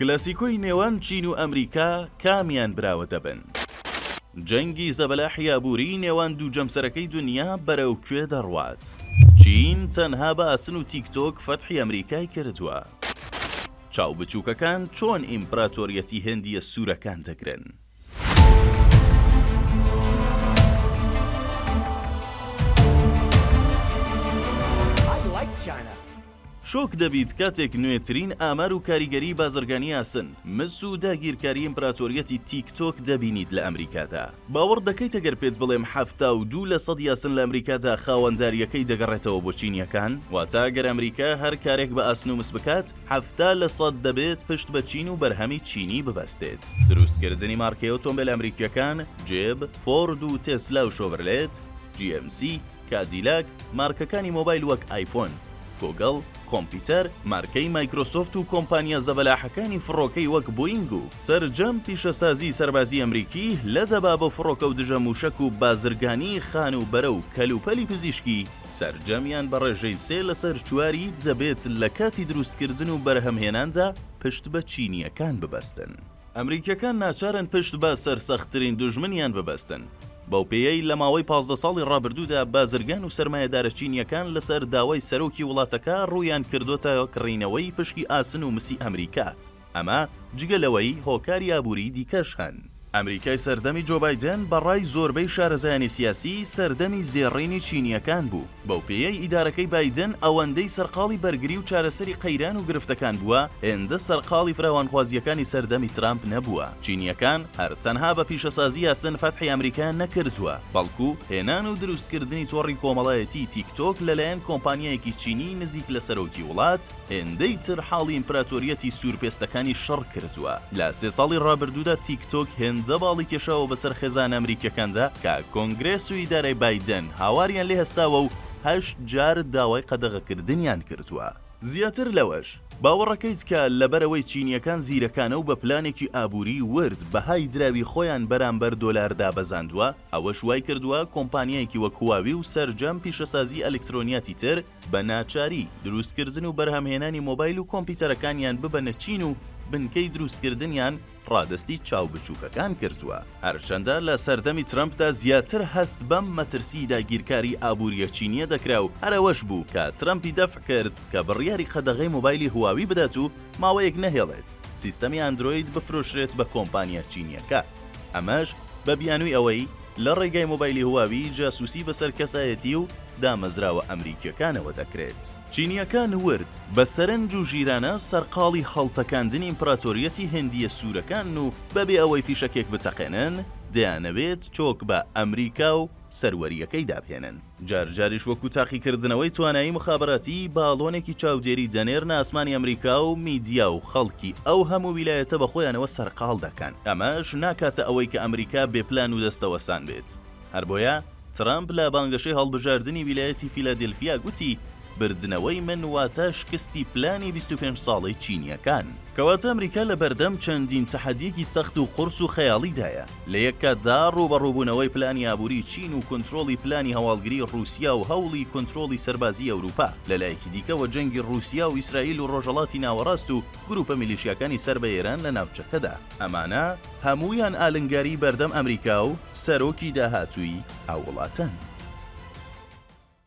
کلاسیکۆی نێوان چین و ئەمریکا کامیان براوە دەبن؟ جەنگی زەبەلاحی ئابووریی نێوان دوو جەمسەرەکەی دنیا بەرەو کوێ دەڕوات؟ چین تەنها بە ئاسن و تیک تۆک فەتحی ئەمریکای کردووە؟ چاو بچووکەکان چۆن ئیمپراتۆریەتی هندییە سوورەکان دەگرن؟ شۆک دەبیت کاتێک نوێترین ئامار و کاریگەری بازرگانی ئاسن، مس و داگیرکاری ئیمپراتۆریەتی تیک تۆک دەبینیت لە ئەمریکادا. باوەڕ دەکەیت ئەگەر پێت بڵێم حەفتا و دوو لە سەد یاسن لە ئەمریکادا خاوەندارییەکەی دەگەڕێتەوە بۆ چینیەکان؟ واتە ئەگەر ئەمریکا هەر کارێک بە ئاسن و مس بکات، حەفتا لە سەد دەبێت پشت بە چین و بەرهەمی چینی ببەستێت. دروستکردنی مارکەی ئۆتۆمبێل ئەمریکییەکان، جێب، فۆرد و تێسلا و شۆڤرلێت، جی ئێم سی، کادیلاک، مارکەکانی مۆبایل وەک ئایفۆن، گۆگڵ، کۆمپیوتەر، مارکەی مایکرۆسۆفت و کۆمپانیا زەبەلاحەکانی فڕۆکەی وەک بۆینگ و سەرجەم پیشەسازیی سەربازیی ئەمریکی لە دەبابە و فڕۆکە و دژە مووشەک و بازرگانیی خانووبەرە و کەلوپەلی پزیشکی سەرجەمیان بە ڕێژەی سێ لەسەر چواری دەبێت لە کاتی دروستکردن و بەرهەمهێناندا پشت بە چینییەکان ببەستن. ئەمریکییەکان ناچارن پشت بە سەرسەختترین دوژمنیان ببەستن، بەو پێیەی لە ماوەی پازدە ساڵی ڕابردوودا بازرگان و سەرمایەدارە چینییەکان لەسەر داوای سەرۆکی وڵاتەکە ڕوویان کردۆتە کڕینەوەی پشکی ئاسن و مسی ئەمریکا، ئەمە جگە لەوەی هۆکاری ئابووریی دیکەش هەن. ئەمریکای سەردەمی جۆ بایدێن بە ڕای زۆربەی شارەزایانی سیاسی سەردەمی زێڕینی چینییەکان بوو، بەو پێیەی ئیدارەکەی بایدێن ئەوەندەی سەرقاڵی بەرگری و چارەسەری قەیران و گرفتەکان بووە، هێندە سەرقاڵی فراوانخوازییەکانی سەردەمی ترامپ نەبووە. چینییەکان هەر تەنها بە پیشەسازی یاسن فەتحی ئەمریکایان نەکردووە، بەڵکو هێنان و دروستکردنی تۆڕی کۆمەڵایەتیی تیک تۆک لەلایەن کۆمپانیایەکی چینیی نزیک لە سەرۆکی وڵات، هێندەی تر حاڵی ئیمپراتۆریەتی سوورپێستەکانی شەڕ کردووە. لە سێ ساڵی ڕابردوودا تیک تۆک هێندە باڵی کێشاوە بەسەر خێزانە ئەمریکییەکاندا کە کۆنگرێس و ئیدارەی بایدن هاواریان لێ هەستاوە و هەشت جار داوای قەدەغەکردنیان کردووە. زیاتر لەوەش، باوەڕەکەیت کە لەبەرئەوەی چینییەکان زیرەکانە و بە پلانێکی ئابووری ورد بەهای دراوی خۆیان بەرامبەر دۆلار دابەزاندووە، ئەوەش وایکردووە کۆمپانیایەکی وەک هواوی و سەرجەم پیشەسازی ئەلیکترۆنیاتی تر، بە ناچاری، دروستکردن و بەرهەمهێنانی مۆبایل و کۆمپیوتەرەکانیان ببەنە چین و بنکەی دروستکردنیان ڕادەستی چاو بچووکەکان کردووە. هەرچەندە لە سەردەمی ترەمپدا زیاتر هەست بەم مەترسیی داگیرکاری ئابوورییە چینییە دەکرا و هەر ئەوەش بوو کە ترەمپی دەفع کرد کە بڕیاری قەدەغەی مۆبایلی هواوی بدات و ماوەیەک نەهێڵێت سیستەمی ئەندرۆید بفرۆشرێت بە کۆمپانیا چینییەکە، ئەمەش بە بیانووی ئەوەی لە ڕێگای مۆبایلی هواوی جاسوسی بەسەر کەسایەتی و دامەزراوە ئەمریکییەکانەوە دەکرێت. چینییەکان ورد بە سەرنج و ژیرانە سەرقاڵی هەڵتەکاندنی ئیمپراتۆریەتی هندییە سوورەکانن و بەبێ ئەوەی فیشەکێک بتەقێنن، دەیانەوێت چۆک بە ئەمریکا و سەروەرییەکەی دابهێنن. جار جاریش وەکو تاقیکردنەوەی توانایی موخابەراتی، باڵۆنێکی چاودێری دەنێرنە ئاسمانی ئەمریکا و میدیا و خەڵکی ئەو هەموو ویلایەتە بە خۆیانەوە سەرقاڵ دەکەن، ئەمەش ناکاتە ئەوەی کە ئەمریکا بێ پلان و دەستەوەستان بێت. هەر بۆیە ترەمپ لە بانگەشەی هەڵبژاردنی ویلایەتی فیلادێلفیا گوتی، بردنەوەی من واتە شکستی پلانی بیست و پێنج ساڵەی چینییەکان. کەواتە ئەمریکا لە بەردەم چەندین تەحەدییەکی سەخت و قورس و خەیاڵیدایە، لە یەک کاتدا ڕووبەڕووبوونەوەی پلانی ئابووریی چین و کونترۆڵی پلانی هەواڵگریی ڕووسیا و هەوڵی کونترۆڵی سەربازیی ئەورووپا، لە لایەکی دیکەوە جەنگی ڕووسیا و ئیسرائیل و ڕۆژهەڵاتی ناوەڕاست و گرووپە میلیشیاکانی سەر بە ئێران لە ناوچەکەدا. ئەمانە هەموویان ئالنگاریی بەردەم ئەمریکا و سەرۆکی داهاتووی ئەو وڵاتەن.